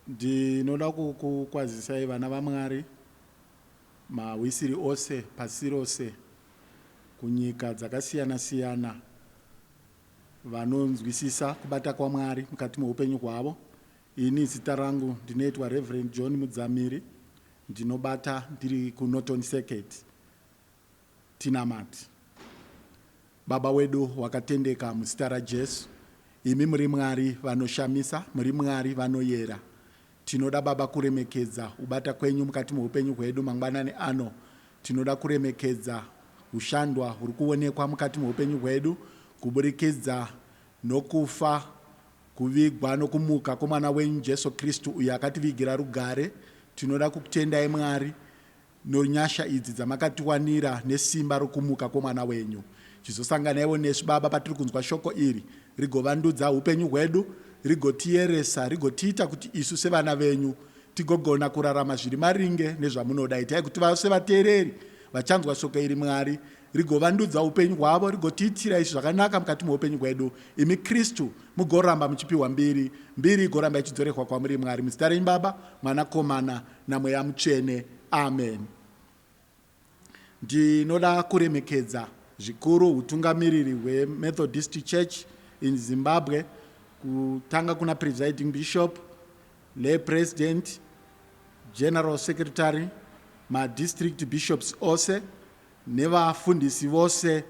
ndinoda kukwazisai vana vamwari mahwisiri ose pasi rose kunyika dzakasiyana siyana vanonzwisisa kubata kwamwari mukati meupenyu hwavo Ini zita rangu ndinoitwa Reverend John Mudzamiri ndinobata ndiri kuNorton Circuit Tinamati Baba wedu wakatendeka muzita raJesu imi muri Mwari vanoshamisa muri Mwari vanoyera tinoda Baba kuremekedza ubata kwenyu mukati meupenyu hwedu mangwanani ano tinoda kuremekedza hushandwa huri kuonekwa mukati meupenyu hwedu kuburikidza Nokufa, kuvigwa nokumuka kwemwana wenyu Jesu Kristu uyo akativigira rugare, tinoda kukutendai Mwari nonyasha idzi dzamakatiwanira nesimba rokumuka kwemwana wenyu. Chizosanganaiwo nesu Baba patiri kunzwa shoko iri rigovandudza hupenyu hwedu, rigotiyeresa, rigotiita kuti isu sevana venyu tigogona kurarama zviri maringe nezvamunoda. Itai kuti vose vateereri vachanzwa shoko iri Mwari rigovandudza upenyu hwavo rigotiitira izvi zvakanaka mukati meupenyu hwedu imi kristu mugoramba muchipiwa mbiri mbiri igoramba ichidzorehwa kwamuri mwari muzita renyu baba mwana komana namweya mutsvene amen ndinoda kuremekedza zvikuru utungamiriri hwemethodist church in zimbabwe kutanga kuna presiding bishop le president general secretary madistrict bishops ose nevafundisi vose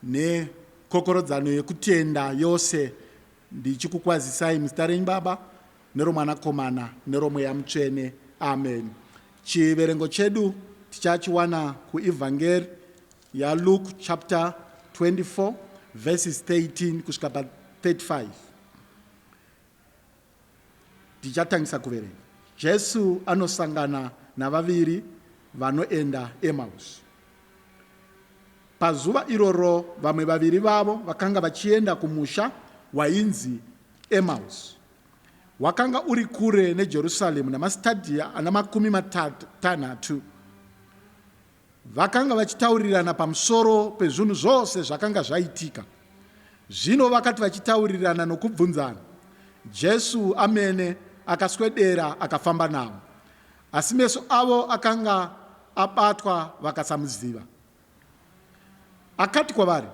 nekokorodzano yekutenda yose ndichikukwazisai muzita renyu Baba neroMwanakomana neroMweya Mutsvene. Amen. Chiverengo chedu tichachiwana kuEvhangeri yaLuke chapter 24 verses 13 kusvika pa 35. Tichatangisa kuverenga. Jesu anosangana navaviri vanoenda Emmaus. Pazuva iroro vamwe vaviri vavo vakanga vachienda kumusha wainzi Emmaus. Wakanga uri kure neJerusalemu namasitadhia ana makumi matanhatu. Vakanga vachitaurirana pamusoro pezvinhu zvose zvakanga zvaitika. Zvino vakati vachitaurirana nokubvunzana, Jesu amene akaswedera akafamba navo. Asi meso avo akanga abatwa vakasamuziva. Akati kwavari,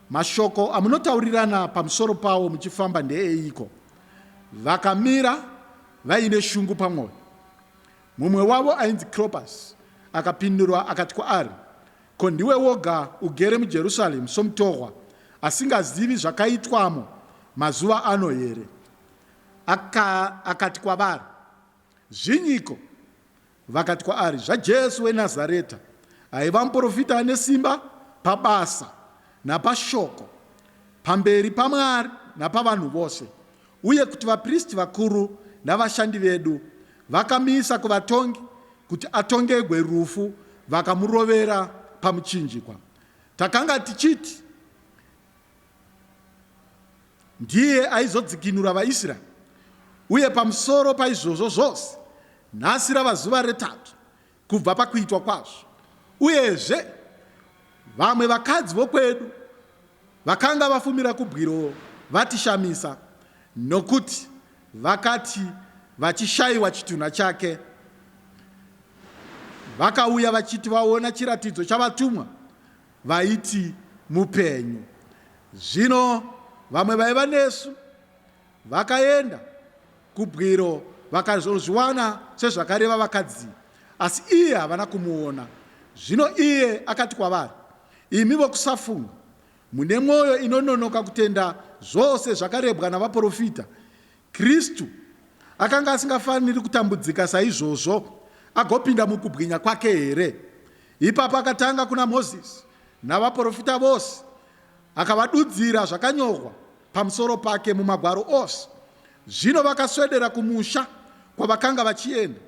Mashoko amunotaurirana pamusoro pawo muchifamba ndeeiko? Vakamira vaine shungu pamwoyo. Mumwe wavo ainzi Klopas akapindura akati kwaari, Ko ndiwe woga ugere muJerusaremu somutorwa, asingazivi zvakaitwamo mazuva ano here? Aka, akati kwavari, Zvinyiko? Vakati kwaari, ZvaJesu weNazareta, aiva muprofita ane simba pabasa napashoko, pamberi paMwari napavanhu vose, Uye kuti vapristi vakuru navashandi vedu vakamuisa kuvatongi kuti atongegwe rufu vakamurovera pamuchinjikwa. Takanga tichiti ndiye aizodzikinura vaIsraeri. Uye pamusoro paizvozvo zvose, nhasi rava zuva retatu kubva pakuitwa kwazvo. Uyezve, vamwe vakadzi vokwedu vakanga vafumira kubwiro vatishamisa nokuti vakati vachishayiwa chitunha chake vakauya vachiti vaona chiratidzo chavatumwa vaiti mupenyu. Zvino vamwe vaiva nesu Vakaenda kubwiro vakazozviwana sezvakareva vakadzi asi iye havana kumuona. Zvino iye akati kwavari, Imi vokusafunga, mune mwoyo inononoka kutenda zvose zvakarebwa navaporofita, Kristu akanga asingafaniri kutambudzika saizvozvo agopinda mukubwinya kwake here? Ipapo akatanga kuna Mozisi navaporofita vose Akavadudzira zvakanyorwa pamusoro pake mumagwaro ose. Zvino vakaswedera kumusha kwavakanga vachienda,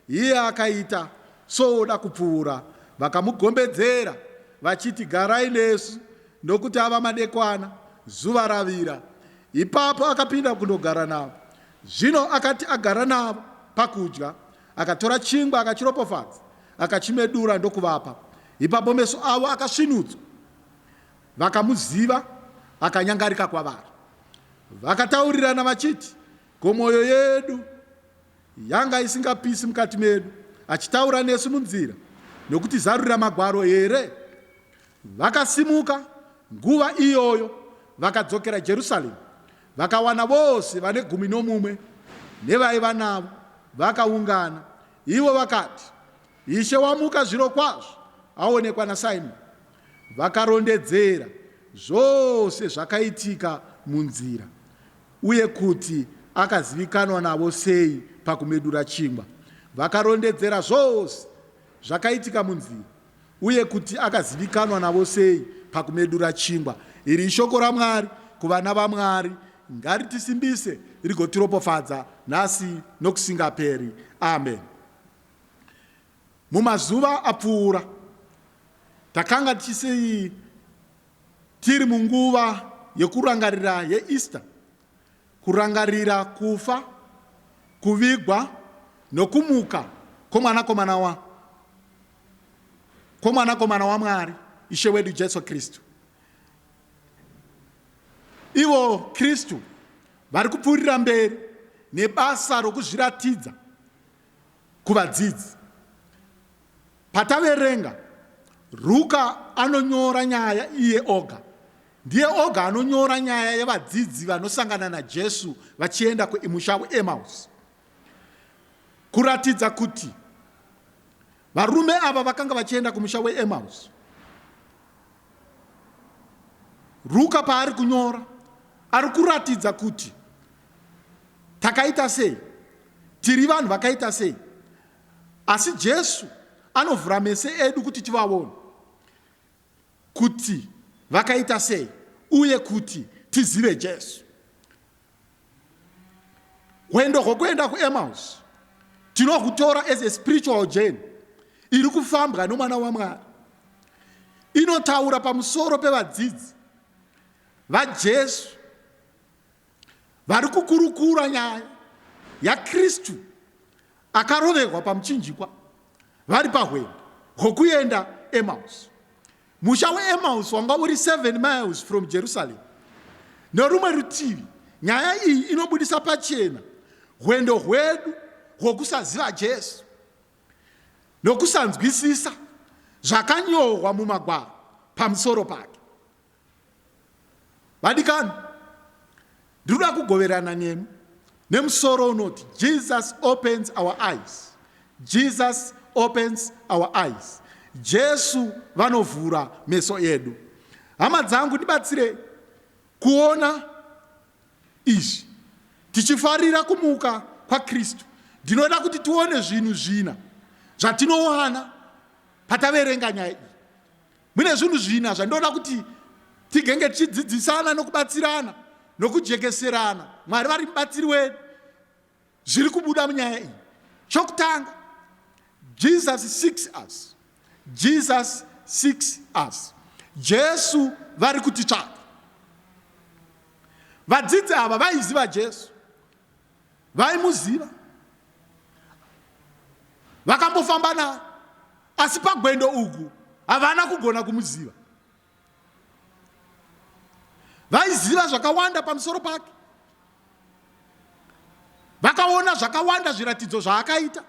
iye akaita sooda kupfuura. Vakamugombedzera vachiti, Garai nesu, nokuti ava madekwana, zuva ravira. Ipapo akapinda kundogara navo. Zvino akati agara navo pakudya, akatora chingwa, akachiropofadza, akachimedura ndokuvapa. Ipapo meso avo akasvinudzwa. vakamuziva vakanyangarika kwavari. Vakataurirana vachiti, Ko mwoyo yedu yanga isingapisi mukati medu achitaura nesu munzira nokutizarurira magwaro here? Vakasimuka nguva iyoyo vakadzokera Jerusaremu, vakawana vose vane gumi nomumwe nevaiva navo vakaungana. Ivo vakati, Ishe wamuka zvirokwazvo, aonekwa naSimoni. Vakarondedzera zvose zvakaitika munzira uye kuti akazivikanwa navo sei pakumedura chingwa. Vakarondedzera zvose zvakaitika munzira uye kuti akazivikanwa navo sei pakumedura chingwa. Iri ishoko raMwari kuvana vaMwari. Ngaritisimbise rigotiropofadza nhasi nokusingaperi. Ameni. Mumazuva apfuura, takanga tichisi tiri munguva yekurangarira yeEaster, kurangarira kufa, kuvigwa nokumuka kwoMwanakomana wa, kwoMwanakomana waMwari, Ishe wedu Jesu Kristu. Ivo Kristu vari kupfuurira mberi nebasa rokuzviratidza kuvadzidzi. Pataverenga, Ruka anonyora nyaya iye oga. Ndiye oga anonyora nyaya yevadzidzi vanosangana naJesu vachienda kumusha weEmaus. Kuratidza kuti varume ava vakanga vachienda kumusha weEmaus. Ruka paari kunyora ari kuratidza kuti takaita sei tiri vanhu vakaita sei asi jesu anovhura mese edu kuti tivaone kuti vakaita sei uye kuti tizive jesu hwendo hwokuenda kuemaus tinohutora as a spiritual journey iri kufambwa nomwana wamwari inotaura pamusoro pevadzidzi vajesu Vari kukurukura nyaya yaKristu akaroverwa pamuchinjikwa vari pahwendo hwokuenda Emmaus. Musha weEmmaus wanga uri 7 miles from Jerusalem. Nerumwe rutivi, nyaya iyi inobudisa pachena hwendo hwedu hwokusaziva Jesu nokusanzwisisa zvakanyorwa mumagwaro pamusoro pake. Vadikani, ndinoda kugoverana nemi nemusoro unoti Jesus opens our eyes. Jesus opens our eyes. Jesu vanovhura meso edu. Hama dzangu, ndibatsire kuona izvi tichifarira kumuka kwaKristu. Ndinoda kuti tione zvinhu zvina zvatinowana pataverenga nyaya iyi. Mune zvinhu zvina zvandinoda kuti tigenge tichidzidzisana nokubatsirana nokujekeserana mwari vari mubatsiri wedu zviri kubuda munyaya iyi chokutanga jesus seeks us jesus seeks us jesu vari kutitsvaka vadzidzi ava vaiziva jesu vaimuziva vakambofamba naye asi pagwendo uku havana kugona kumuziva vaiziva zvakawanda pamusoro pake vakaona zvakawanda zviratidzo zvaakaita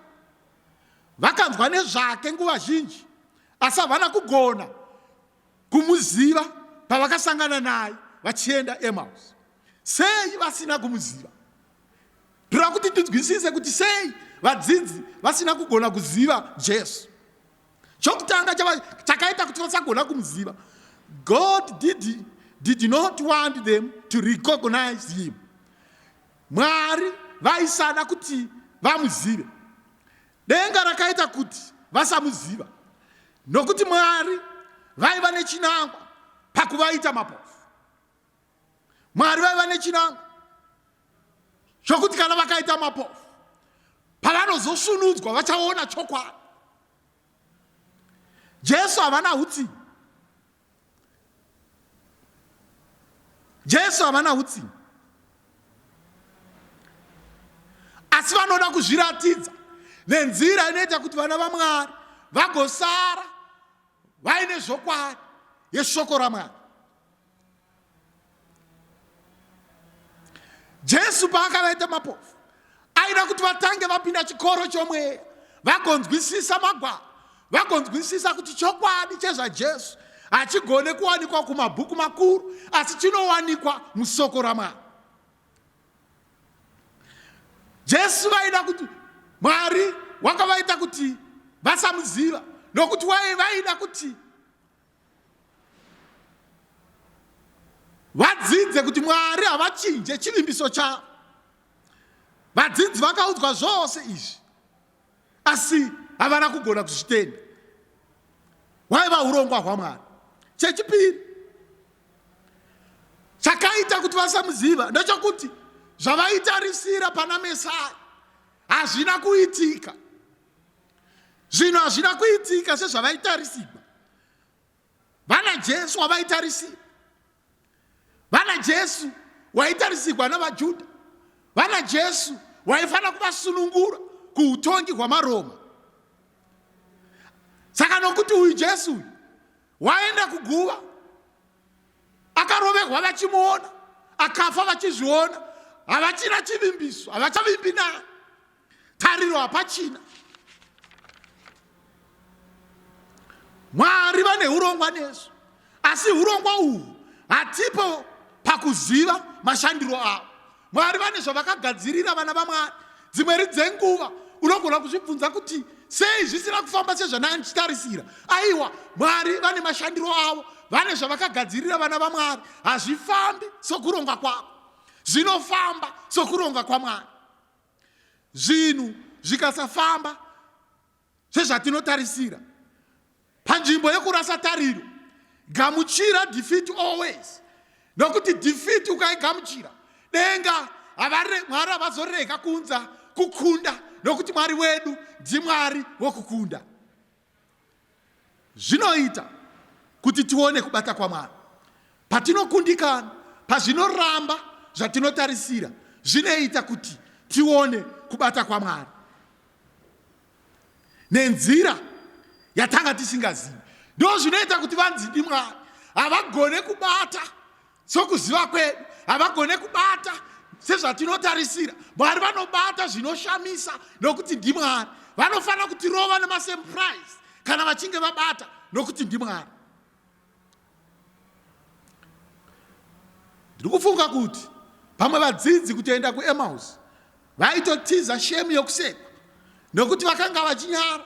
vakanzwa nezvake nguva zhinji asi havana kugona kumuziva pavakasangana naye vachienda emaus Sei vasina kumuziva? Tinoda kuti tinzwisise kuti sei vadzidzi vasina kugona kuziva Jesu. Chokutanga chakaita kuti vasagona kumuziva, God did, did not want them to recognize him. Mwari vaisada kuti vamuzive. Denga rakaita kuti vasamuziva nokuti Mwari vaiva nechinangwa pakuvaita mapofu. Mwari vaiva nechinangwa chokuti kana vakaita mapofu pavanozosvunudzwa vachaona chokwadi. Jesu havana utsinye. Jesu havana utsinye. Asi vanoda kuzviratidza nenzira inoita kuti vana vaMwari vagosara vaine zvokwadi yeshoko raMwari. jesu paakavaita mapofu aida kuti vatange vapinda chikoro chomweya vagonzwisisa magwaro vagonzwisisa kuti chokwadi chezvajesu hachigone kuwanikwa kumabhuku makuru asi chinowanikwa musoko ramwari jesu vaida kuti mwari wakavaita kuti vasamuziva nokuti waye vaida kuti vadzidze kuti mwari havachinje chivimbiso chavo vadzidzi vakaudzwa zvose izvi asi havana kugona kuzvitenda hwaiva urongwa hwamwari chechipiri chakaita kuti vasamuziva ndechokuti zvavaitarisira pana mesai hazvina kuitika zvinhu hazvina kuitika sezvavaitarisigwa vana jesu wavaitarisira vana jesu waitarisigwa navajudha vana jesu waifanira kuvasunungura kuutongi hwamaroma saka nokuti uyu jesu uyu waenda kuguva akarovehwa vachimuona akafa vachizviona havachina chivimbiso havachavimbi naye tariro hapachina mwari vane urongwa nesu asi urongwa uhwu hatipo pakuziva mashandiro avo mwari vane zvavakagadzirira vana vamwari dzimweri dzenguva unogona kuzvibvunza kuti sei zvisina kufamba sezvana ndichitarisira aiwa mwari vane mashandiro avo vane zvavakagadzirira vana vamwari hazvifambi sokuronga kwavo zvinofamba sokuronga kwamwari Zvinhu zvikasafamba sezvatinotarisira, panzvimbo yekurasa tariro, gamuchira defeat always, nokuti defeat ukaigamuchira denga mwari havazorega kuunza kukunda nokuti mwari wedu ndimwari wokukunda. Zvinoita kuti tione kubata kwaMwari patinokundikana pazvinoramba zvatinotarisira. Zvinoita kuti tione kubata kwaMwari nenzira yatanga tisingazivi. Ndozvinoita kuti vanzi ndiMwari havagone kubata Sokuziva kwedu havagone kubata sezvatinotarisira. Mwari vanobata zvinoshamisa nokuti ndiMwari. Vanofanira kutirova nemasemuprise kana vachinge vabata nokuti ndiMwari. Ndiri kufunga kuti pamwe vadzidzi kutoenda kuEmaus vaitotiza shemu yokusekwa nokuti vakanga vachinyara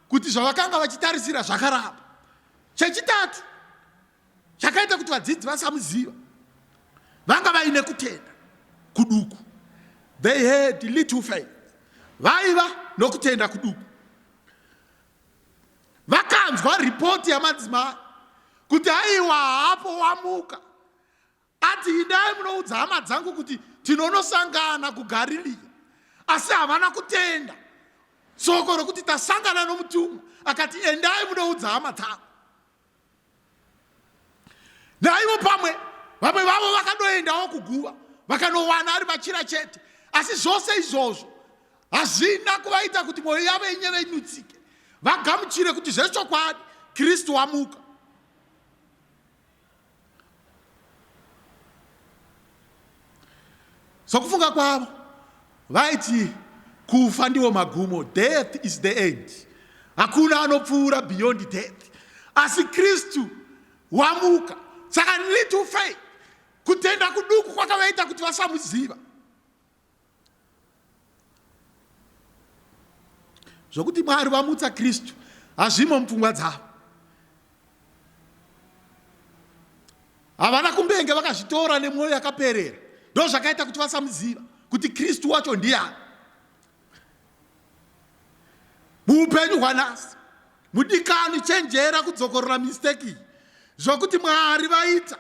kuti zvavakanga vachitarisira zvakaramba. Chechitatu, chakaita kuti vadzidzi vasamuziva vanga vaine kutenda kuduku they had little faith vaiva nokutenda kuduku vakanzwa ripoti yamadzimai kuti aiwa hapo wamuka Ati, Idai munoudza hama dzangu kuti tinonosangana kuGariria. Asi havana kutenda soko rokuti tasangana nomutumwa. Akati, Endai munoudza hama dzangu. Naivo pamwe vamwe vavo vakadoendawo kuguva vakanowana ari machira chete asi zvose izvozvo hazvina kuvaita kuti mwoyo yavo inyeve inutsike vagamuchire kuti zvechokwadi kristu wamuka sokufunga kwavo vaiti kufa ndiwo magumo death is the end hakuna anopfuura beyond death asi kristu wamuka saka little faith kutenda kuduku kwakavaita kuti vasamuziva zvokuti mwari vamutsa kristu hazvimo mupfungwa dzavo havana kumbenge vakazvitora nemwoyo yakaperera ndozvakaita kuti vasamuziva kuti kristu wacho ndiyani muupenyu hwanhasi mudikani chenjera kudzokorora mistake iyi zvokuti mwari vaita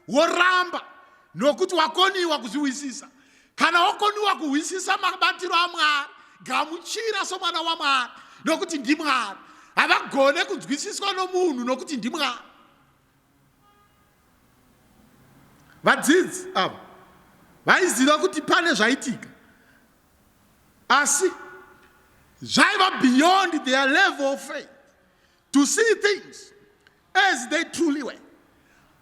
woramba nokuti wakoniwa kuzvihwisisa kana wakoniwa kuhwisisa mabatiro amwari gamuchira somwana wamwari nokuti ndimwari havagone kunzwisiswa nomunhu nokuti ndimwari Vadzidzi ava vaiziva kuti pane zvaitika asi zvaiva beyond their level of faith to see things as they truly were.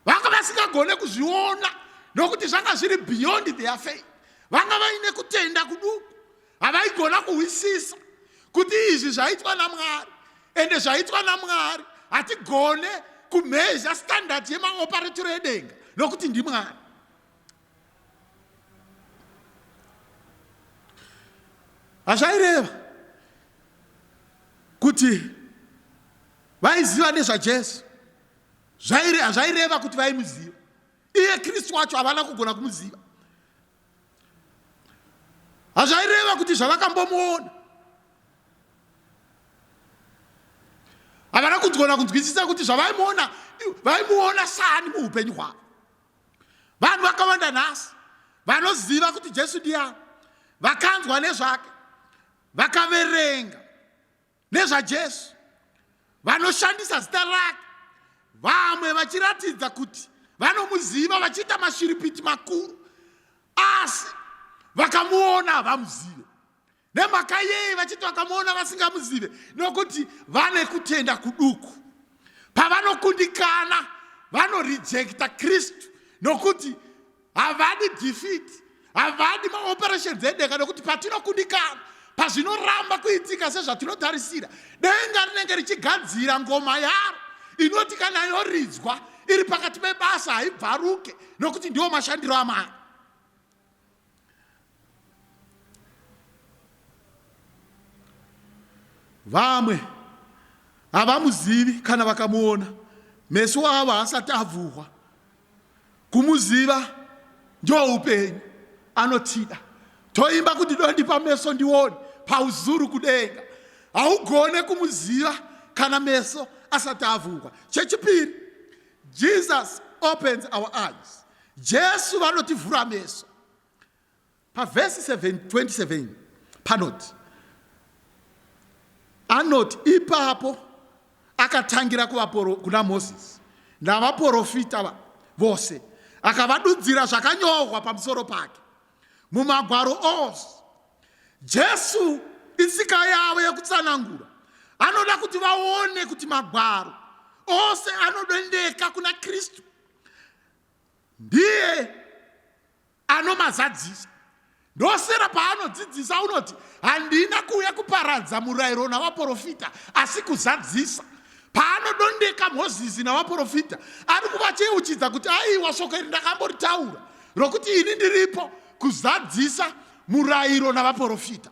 Vanga vasingagone kuzviona nokuti zvanga zviri beyond their faith. Vanga vaine kutenda kuduku havaigona kuhwisisa kuti izvi zvaitwa namwari ende zvaitwa namwari hatigone kumhezha standard yemaoparetiro edenga nokuti ndimwari hazvaireva kuti vaiziva nezvajesu hazvaireva kuti vaimuziva iye kristu wacho havana kugona kumuziva hazvaireva kuti zvavakambomuona havana kunzgona kunzwisisa kuti zvavaimuona vaimuona sani muupenyu hwavo vanhu vakawanda nhasi vanoziva kuti jesu ndiyani vakanzwa nezvake vakaverenga nezvajesu vanoshandisa zita rake vamwe vachiratidza kuti vanomuziva vachiita mashiripiti makuru asi vakamuona havamuzive nemhaka yei vachiti vakamuona vasingamuzive nokuti vane kutenda kuduku pavanokundikana vanorejekta kristu nokuti havadi defeat havadi maoperations edeka nekuti patinokundikana pazvinoramba kuitika sezvatinotarisira denga rinenge richigadzira ngoma yaro inoti kana yoridzwa iri pakati pebasa haibvaruke nokuti ndiwo mashandiro amari Vamwe havamuzivi kana vakamuona, meso avo haasati avhurwa. Kumuziva ndiwo upenyu, anotida. Toimba kuti dondipa meso ndione pauzuru kudenga. Haugone kumuziva kana meso asati avhurwa. Chechipiri, Jesus opens our eyes. Jesu vanotivhura meso. Pavhesi 27 panoti anoti ipapo akatangira kuvaporo kuna mozisi navaporofita vose akavadudzira zvakanyorwa pamusoro pake mumagwaro ose jesu itsika yavo yekutsanangura anoda kuti vaone kuti magwaro ose anodendeka kuna kristu ndiye anomazadzisa ndosera paanodzidzisa unoti handina kuuya kuparadza murayiro navaprofita asi kuzadzisa paanodondeka mozisi navaprofita ari kuvacheuchidza kuti aiwa shoko iri ndakamboritaura rokuti ini ndiripo kuzadzisa murayiro navaprofita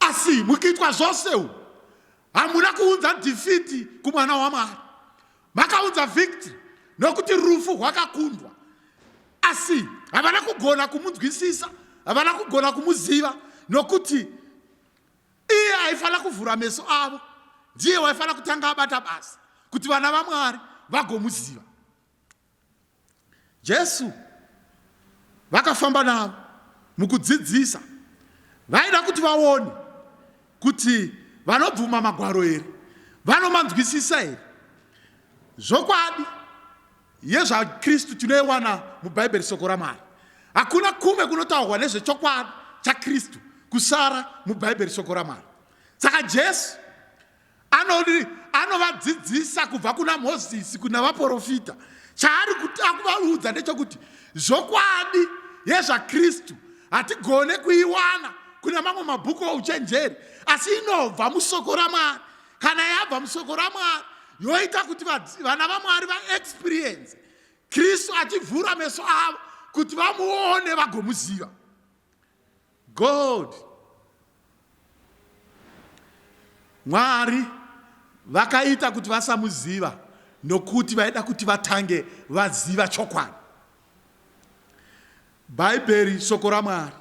Asi mukuitwa zvose umu hamuna kuunza dhifiti kumwana waMwari. Makaunza victory nokuti rufu rwakakundwa. Asi havana kugona kumunzwisisa, havana kugona kumuziva nokuti iye aifanira kuvhura meso avo. Ndiye waifanira kutanga abata basa kuti vana vaMwari vagomuziva. Jesu vakafamba navo mukudzidzisa vaida kuti vaone kuti vanobvuma magwaro here vanomanzwisisa here zvokwadi yezvakristu tinoiwana mubhaibheri soko ramwari hakuna kumwe kunotaurwa nezvechokwadi chakristu kusara mubhaibheri soko ramwari saka jesu Anodi anovadzidzisa kubva kuna Mozisi kuna vaporofita. Chaari kuti akuvaudza ndechokuti zvokwadi yezvaKristu hatigone kuiwana kuna mamwe mabhuku ouchenjeri, asi inobva musoko raMwari. Kana yabva musoko raMwari yoita kuti vana vaMwari vaexperience Kristu achivhura meso avo kuti vamuone vagomuziva. God Mwari vakaita kuti vasamuziva nokuti vaida kuti vatange vaziva chokwadi. Bhaibheri, shoko raMwari,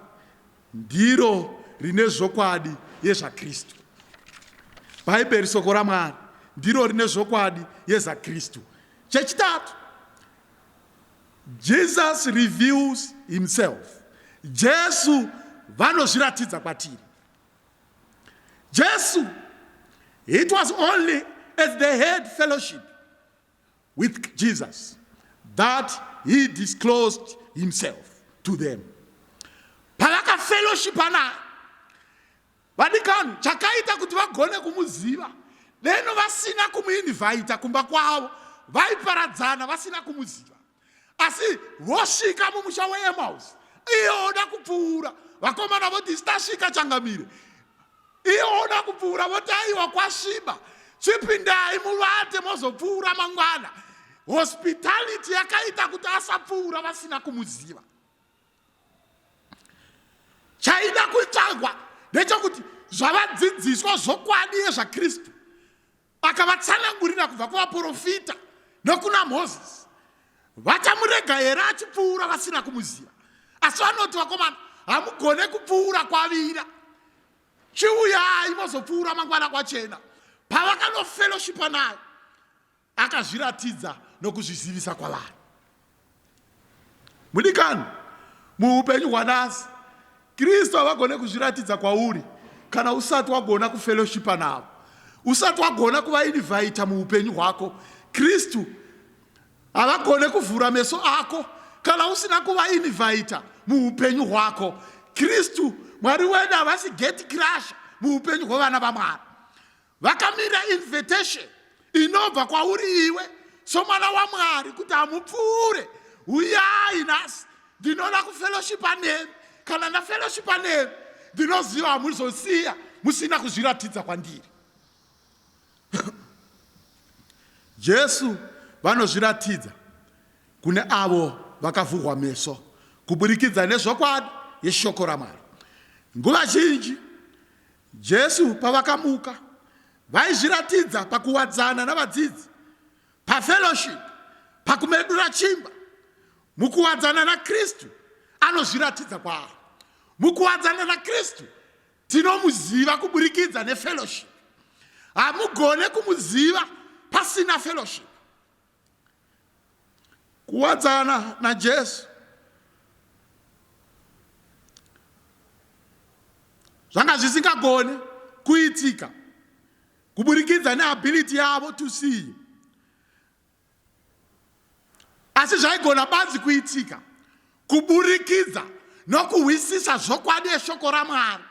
ndiro rine zvokwadi yezvaKristu. Bhaibheri, shoko raMwari, ndiro rine zvokwadi yezvaKristu. Chechitatu, Jesus reveals himself. Jesu vanozviratidza kwatiri. Jesu, it was only as they had fellowship with Jesus that he disclosed himself to them. Pavakafellowshipa naye Vadikani, chakaita kuti vagone kumuziva deno vasina kumuinvhaita kumba kwavo vaiparadzana vasina kumuziva asi vosvika mumusha weemausi iye oda kupfuura vakomana voti isitasvika changamire iye oda kupfuura voti aiwa kwasviba chipindai muvate mozopfuura mangwana hospitality yakaita kuti asapfuura vasina kumuziva chaida kuitagwa ndechokuti zvavadzidziswa zvokwadi yezvakristu akavatsanangurira kubva kuvaprofita nokuna mozisi vachamurega here achipfuura vasina kumuziva asi vanoti vakomana hamugone kupfuura kwavira chiuyai mozopfuura mangwana kwachena pavakanofellowshipa nayo akazviratidza nokuzvizivisa kwavari mudikani muupenyu hwanasi kristu havagone kuzviratidza kwauri kana usati wagona kufeloshipa navo usati wagona kuvainivhaita muupenyu hwako kristu havagone kuvhura meso ako kana usina kuvainivhaita muupenyu hwako kristu mwari wedu havasi geti crasha muupenyu hwevana vamwari vakamira invitation inobva kwauri iwe somwana wamwari kuti hamupfuure huyai nhasi ndinoda kufellowshipa nemi kana ndafellowshipa nemi ndinoziva hamuzosiya musina kuzviratidza kwandiri jesu vanozviratidza kune avo vakavhurwa meso kuburikidza nezvokwadi yeshoko ramwari nguva zhinji Jesu pavakamuka vaizviratidza pakuwadzana navadzidzi, pafellowship, pakumedura chimba. Mukuwadzana naKristu anozviratidza kwaari. Mukuwadzana naKristu tinomuziva kuburikidza nefellowship. Hamugone kumuziva pasina fellowship. Kuwadzana naJesu zvanga zvisingagone kuitika kuburikidza neability yavo to see asi zvaigona banzi kuitika kuburikidza nokuhwisisa zvokwadi eshoko ramwari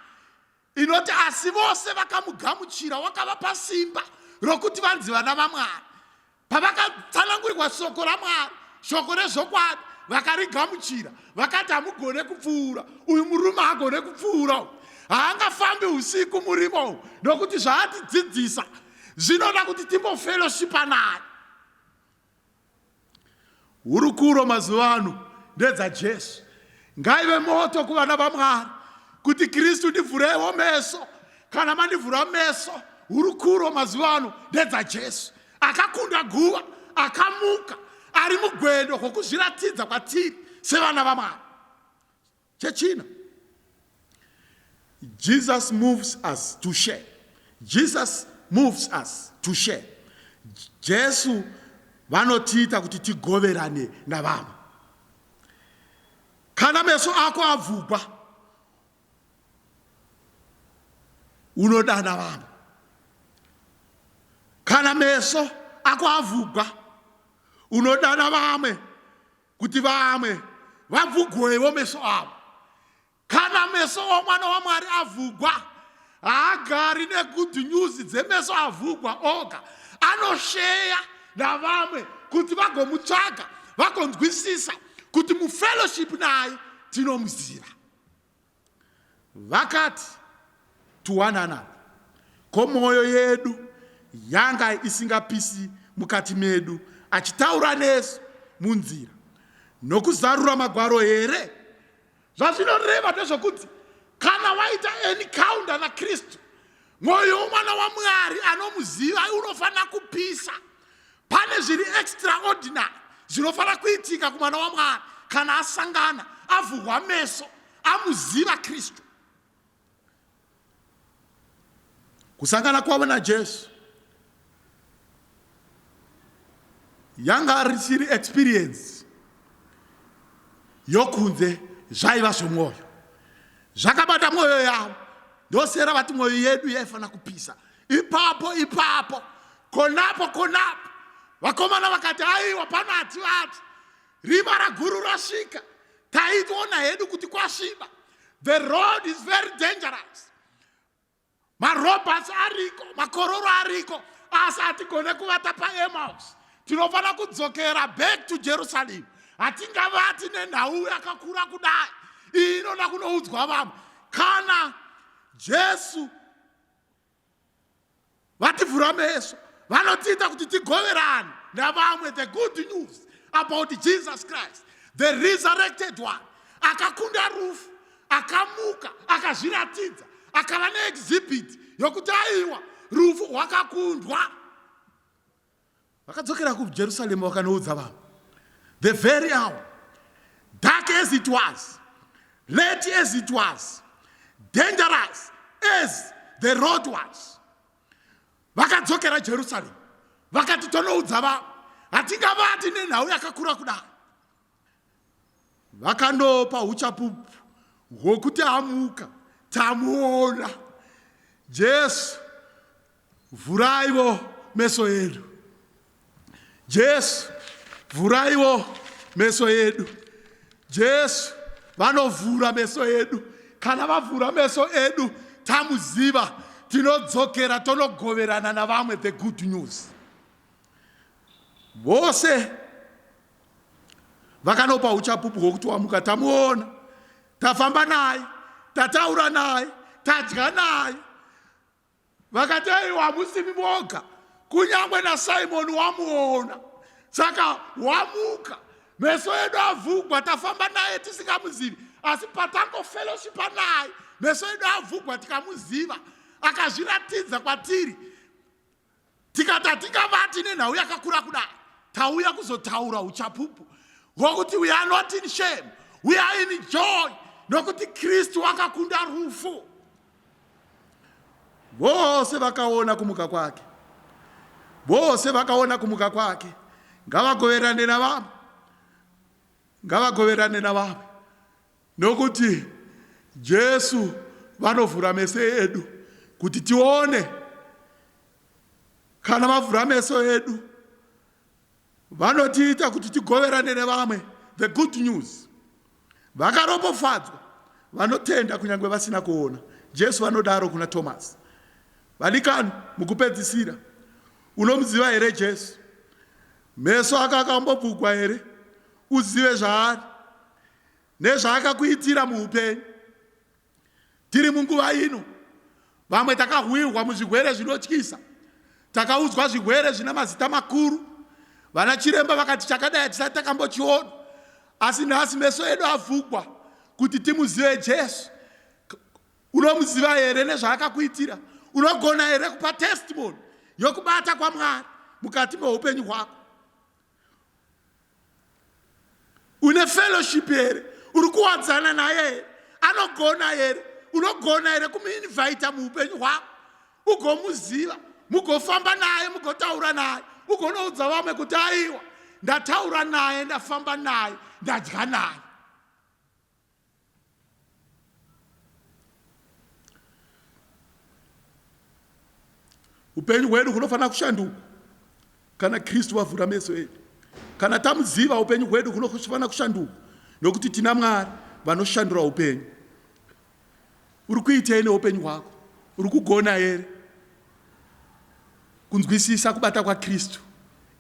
inoti asi vose vakamugamuchira wakavapa simba rokuti vanzi vana vamwari pavakatsanangurikwa soko ramwari shoko rezvokwadi vakarigamuchira vakati hamugone kupfuura uyu murume haagone kupfuura u haangafambi usiku murimo u nokuti zvaatidzidzisa zvinoda kuti timbofellowshipa naye Hurukuro mazuva ano ndedzaJesu. Ngaive moto kuvana vaMwari kuti Kristu ndivhurewo meso. Kana mandivhura meso, hurukuro mazuva ano ndedzaJesu. Akakunda guva, akamuka, ari mugwendo kwokuzviratidza kwatiri sevana vaMwari. Chechina, Jesus moves us to share. Jesus moves us to share. Jesu vanotiita kuti tigoverane navamwe. Kana meso ako abvugwa, unodana vamwe. Kana meso ako avhugwa, unodana vamwe kuti vamwe vavhugwewo meso avo kana meso omwana wamwari avhugwa haagari negud news dzemeso avhugwa oga anosheya navamwe kuti vagomutsvaga vagonzwisisa kuti mufellowship naye tinomuziva Vakati tuwanana ko mwoyo yedu yanga isingapisi mukati medu achitaura nesu munzira nokuzarura magwaro here? Zvazvinoreva ndezvokuti kana waita encounter naKristu mwoyo womwana wamwari anomuziva unofanira kupisa pane zviri extraordinary zvinofanira kuitika kumwana wamwari kana asangana avhurwa meso amuziva kristu kusangana kwavo najesu yanga risiri experience yokunze zvaiva zvemwoyo zvakabata mwoyo yavo ndosera vati mwoyo yedu yaifanira kupisa ipapo ipapo konapo konapo vakomana vakati aiwa pano hativati rima raguru rasvika taitoona hedu kuti kwasviba the road is very dangerous marobots ariko makororo ariko asi hatigone kuvata paemaus tinofanira kudzokera back to jerusalem hatingavati nenhau yakakura kudai iyi inoda kunoudzwa vamwe kana jesu Vativhura meso vanotiita kuti tigoverane navamwe the good news about Jesus Christ the resurrected one akakunda rufu akamuka akazviratidza akava neexhibit yokuti aiwa rufu rwakakundwa Vakadzokera kuJerusarema vakanoudza vanhu, the very hour, dark as it was, late as it was, dangerous as the road was. Vakadzokera Jerusalem vakati tonoudza vanhu, hatingavati nenhau yakakura kudai. Vakandopa huchapupu hwokuti amuka, tamuona. Jesu, vhuraiwo meso edu. Jesu, vhuraiwo meso edu. Jesu vanovhura meso edu. Kana vavhura meso edu, tamuziva, tinodzokera tonogoverana navamwe the good news. Vose vakanopa uchapupu hwokuti wamuka tamuona tafamba naye tataura naye tadya naye vakati ei wamusimi moga kunyange nasimoni wamuona saka wamuka meso edu avhugwa tafamba naye tisingamuzivi asi patangofellowshipa naye meso edu avhugwa tikamuziva akazviratidza kwatiri tikati hatingavati nenhau yakakura kudai tauya kuzotaura uchapupu hwokuti we are not in shame we are in joy nokuti kristu wakakunda rufu vose vakaona kumuka kwake vose vakaona kumuka kwake ngavagoverane navamwe ngavagoverane navamwe Nokuti Jesu vanovhura meso edu kuti tione. Kana vavhura meso edu vanotiita kuti tigoverane nevamwe the good news. Vakaropofadzwa vanotenda kunyange vasina kuona, Jesu vanodaro kuna Tomasi. Vadikani, mukupedzisira, unomuziva here Jesu? Meso ako akambobvugwa here uzive zvaari? nezvaakakuitira muupenyu. Tiri munguva ino, vamwe takahwirwa muzvigwere zvinotyisa, takaudzwa zvigwere zvina mazita makuru. Vana chiremba vakati chakadai hatisati takambochiona, asi nhasi meso edu avhugwa kuti timuzive Jesu. Unomuziva here nezvaakakuitira? Unogona here kupa testimony yokubata kwaMwari mukati meupenyu hwako? une fellowship here uri kuwadzana naye here anogona here unogona here kumuinvita muupenyu hwako ugomuziva mugofamba naye mugotaura naye ugonoudza vamwe kuti aiwa ndataura naye ndafamba naye ndadya naye upenyu hwedu hunofanira kushanduka kana kristu vavhura meso edu kana tamuziva upenyu hwedu hunofanira kushanduka nokuti tina mwari vanoshandura upenyu uri kuitei neupenyu hwako uri kugona here Kunzwisisa kubata kwaKristu,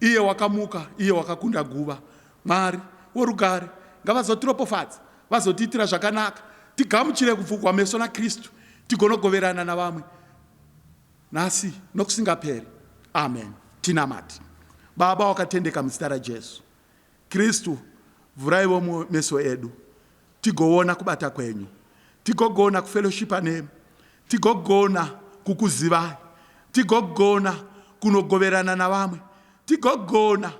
iye wakamuka, iye wakakunda guva. Mwari worugare ngavazotiropofadza, vazotiitira zvakanaka, tigamuchire kupfugwa meso naKristu, tigonogoverana navamwe nhasi nokusingaperi. Amen. Tinamate. Baba wakatendeka, muzita raJesu. Kristu, vhuraiwo meso edu tigoona kubata kwenyu, tigogona kufeloshipa nemi, tigogona kukuzivai, tigogona kunogoverana navamwe, tigogona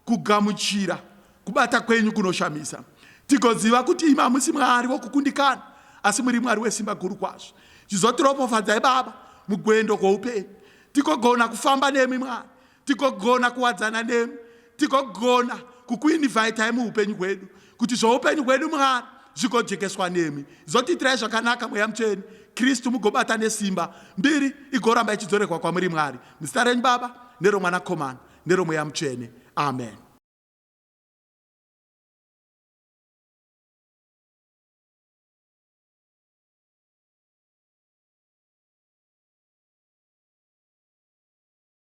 kugamuchira kubata kwenyu kunoshamisa, tigoziva kuti imi hamusi Mwari wokukundikana, asi muri Mwari wesimba guru kwazvo. Chizotiropofadzai Baba mugwendo kwoupenyu, tigogona kufamba nemi Mwari tigogona kuwadzana nemi tigogona kukuinivhaitai muupenyu hwedu kuti zvoupenyu hwedu mwari zvigodjekeswa nemi zotiitirai zvakanaka mweya mutsveni kristu mugobata nesimba mbiri igoramba ichidzoregwa kwamuri mwari muzita renyu baba neromwanakomana neromweya mutsvene amen